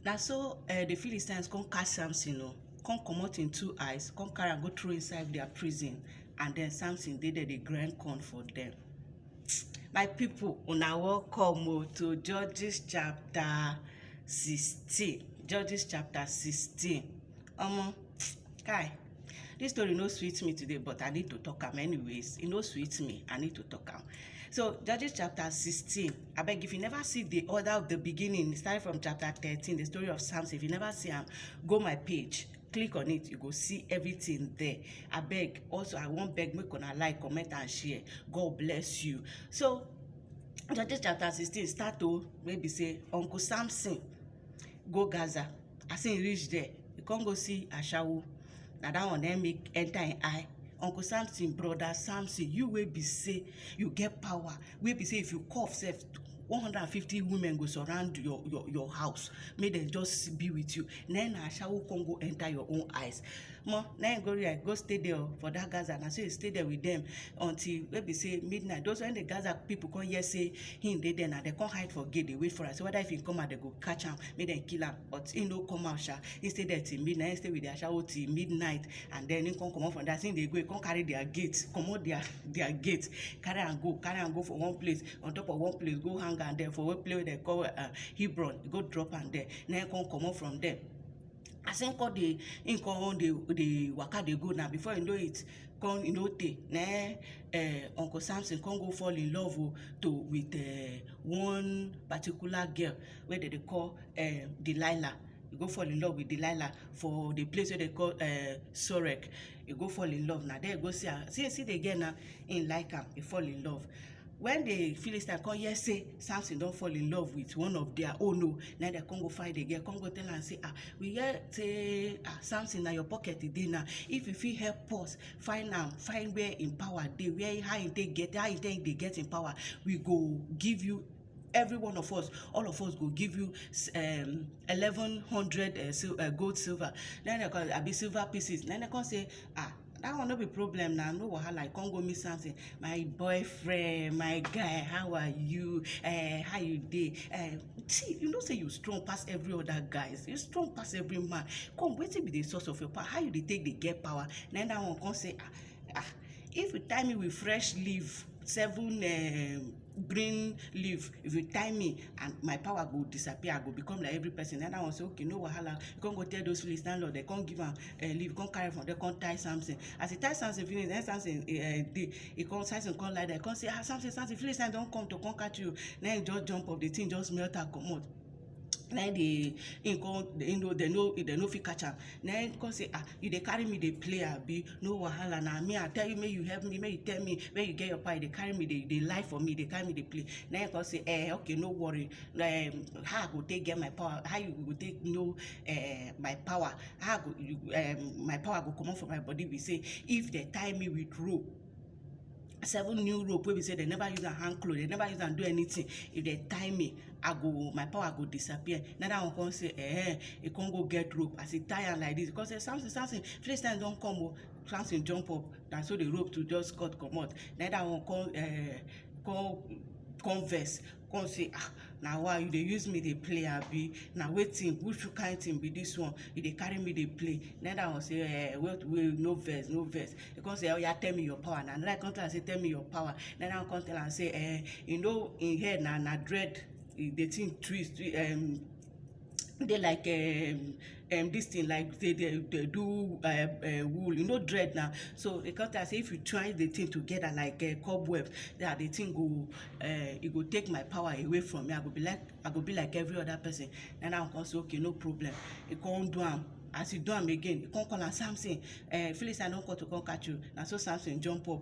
Na so um di Philistines come catch Samson o, come comot im two eyes, come carry am go throw inside their prison and then Samson dey there dey grind corn for them. My people, una welcome o to Judges chapter sixteen, Judges chapter sixteen. Omo, kai! this story no sweet me today but i need to talk am anyways e no sweet me i need to talk am so judges chapter 16 i beg if you never see the order of the beginning starting from chapter 13 the story of samson if you never see am go my page click on it you go see everything there i beg also i wan beg make una like comment and share god bless you so judges chapter 16 start to maybe say uncle samson go gaza as he reach there he come go see ashawo na that one na him make enter him eye uncle samson brother samson you wey be say you get power wey be say if you cough sef one hundred and fifty women go surround your your your house make dem just be with you na him na ashawo come go enter your own eyes omo na him go where go stay there o for that gaza na so he stay there with them until wey be say midnight those when the gaza people come hear say him dey there na dem come hide for gate dey wait for am say whether if he come out dem go catch am make dem kill am but he no come out sha he stay there till midnight he stay with the ashawo till midnight and then he come comot from there as he dey go he come carry their gate comot their their gate carry am go carry am go for one place on top of one place go hang am there for one place wey dem call uh, hebron he go drop am there na him come comot from there as him come dey him come dey dey waka dey go na before you know it come e no tey na im um uncle Samson come go fall in love o to with um one particular girl wey dem dey call um Delilah e go fall in love with Delilah for the place wey dem call um Sorek e go fall in love na there e go see am see see the girl now him like am e fall in love when the philistine come hear say samson don fall in love with one of their own o na dem come go find the girl come go tell am say ah we hear say ah samson na your pocket e dey now if you fit help us find am find where im power dey where how im take get how im take dey get im power we go give you every one of us all of us go give you um, eleven hundred uh, sil- uh, gold silver na dem come abi silver pieces na dem come say ah that one no be problem na no wahala you come go meet something my boyfriend my guy how are you uh, how you dey uh, see you know say you strong pass every other guys you strong pass every man come wetin be the source of your power how you dey take dey get power na that one come say ah ah if you tie me with fresh leaf seven um, green leaf if you tie me and my power go disappear i go become like every person another one say okay no wahala you come go tell those philist landlord dem come give am uh, leaf come carry from there come tie samson as he tie samson finish then samson uh, eh, dey eh, he come samson come lie there come say ah samson samson philistine don come to come catch you then he just jump up the thing just melt am comot na im dey im come im no dem no dem no fit catch am na im come say ah you dey carry me dey play abi no wahala na me I tell you make you help me make you tell me where you get your power you dey carry me dey dey lie for me dey carry me dey play na im come say um okay no worry um how I go take get my power how you go take know um my power how I go you um my power go comot for my body be sey if dem tie me with rope seven new rope wey be say dem never use am hang cloth dem never use am do anything if dem tie me i go my power go disappear na that one come say eh he come go get rope as he tie am like this because say samson samson philistines don come o samson jump up na so the rope to just cut comot na that one come eh come come vex come say ah na why you dey use me dey play abi na wetin which kind thing be this one you dey carry me dey play then that one say eh wait wait no vex no vex he come say oya tell me your power na another come tell am say tell me your power then that one come tell am say eh you know him head na na dread the thing twist um dey like um um this thing like dey dey dey do um um wool you know dread na so e come tell am say if you twine the thing together like um cobweb that the thing go um e go take my power away from me I go be like I go be like every other person na that one come say okay no problem e come do am as e do am again e come call am Samson um Philistine don come to come catch you na so Samson jump up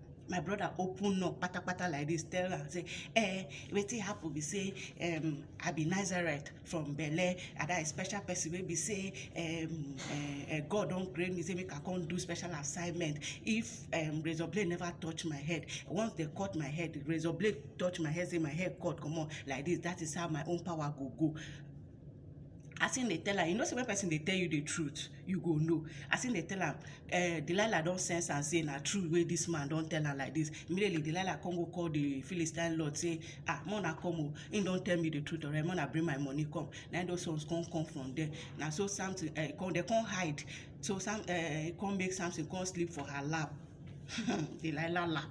my brother open up patapata like this tell am say eh wetin happen be say um, i be nazareth from belle and that special person wey be say um, uh, uh, god don create me say make i come do special assignment if um, razor blade never touch my head once they cut my head razor blade touch my head say my head cut comot like this that is how my own power go go as him dey tell am you know say when person dey tell you the truth you go know as him dey tell am uh, delilah don sense am say na true wey this man don tell am like this immediately delilah come go call the philistine lord say ah mona come o him don tell me the truth alright mona bring my money come na those ones come come from there na so something uh, eh, come they come hide so some uh, eh, come make something come sleep for her lap delilah lap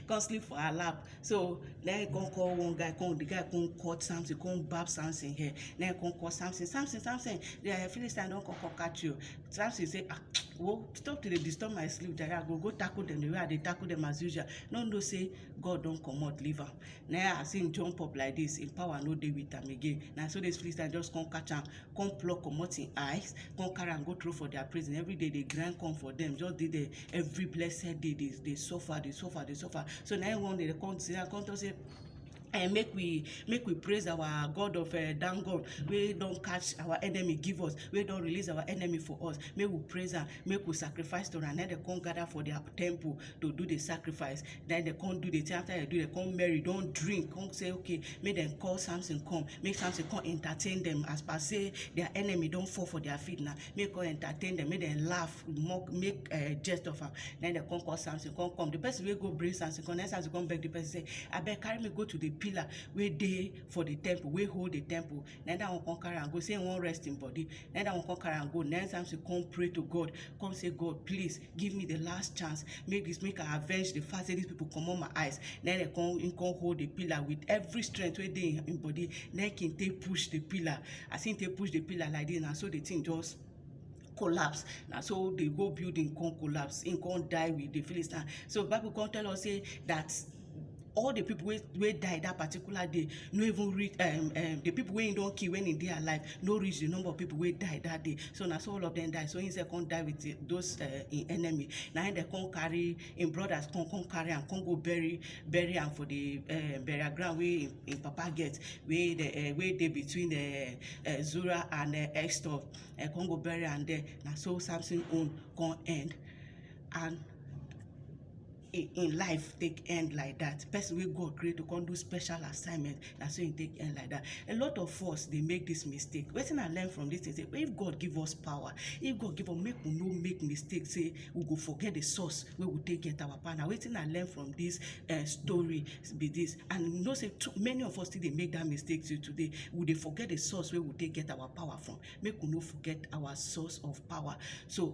come sleep for her lap so na him come call one guy come the guy come cut something come bab something here na him come call something something something the uh, philistine don come come catch you something say ah wo stop to dey disturb my sleep jare i go go tackle them the way i dey tackle them as usual no know say god don comot leave am na as him jump up like this him power no dey with am again na so this philistine just come catch am come pluck comot him eyes come carry am go throw for their prison every day dey grind corn for them just dey there every blessed day dey dey suffer dey suffer dey suffer so na him one day dey come sit down come talk say and make we make we praise our god of uh, dan god wey don catch our enemy give us wey don release our enemy for us make we praise am make we sacrifice to am then they come gather for their temple to do the sacrifice then they come do the thing after they do they come marry don drink come say okay make dem call samson come make samson come entertain them as per say their enemy don fall for their feet now make come entertain them make them laugh mock make uh, jest of am then they come call samson come come the person wey go bring samson come then samson come beg the person say abeg carry me go to the pillar wey dey for the temple wey hold the temple then that one come carry am go say he wan rest him body then that one come carry am go then samson come pray to god come say god please give me the last chance make this make i avenge the fact say these people comot my eyes na him dey come him come hold the pillar with every strength wey dey him him body na him take push the pillar as him take push the pillar like this na so the thing just collapse na so the whole building come collapse him come die with the philistine so bible come tell us say that all the people wey wey die that particular day no even reach um, um, the people wey he don kill when he dey alive no reach the number of people wey die that day so na so all of them die so he sef come die with eh, those uh, him enemy na him dem come carry him brothers come come carry am come go bury bury am for the uh, burial ground wey him, him papa get wey the uh, wey dey between uh, uh, zura and uh, extor uh, come go bury am there na so samson own come end and in in life take end like that person wey god create to come do special assignment na so e take end like that a lot of us dey make this mistake wetin i learn from this thing say if god give us power if god give us make we no make mistake say we go forget the source wey we take get our power na wetin i learn from this uh, story be this and you know say too, many of us still dey make that mistake till today we dey forget the source wey we take get our power from make we no forget our source of power so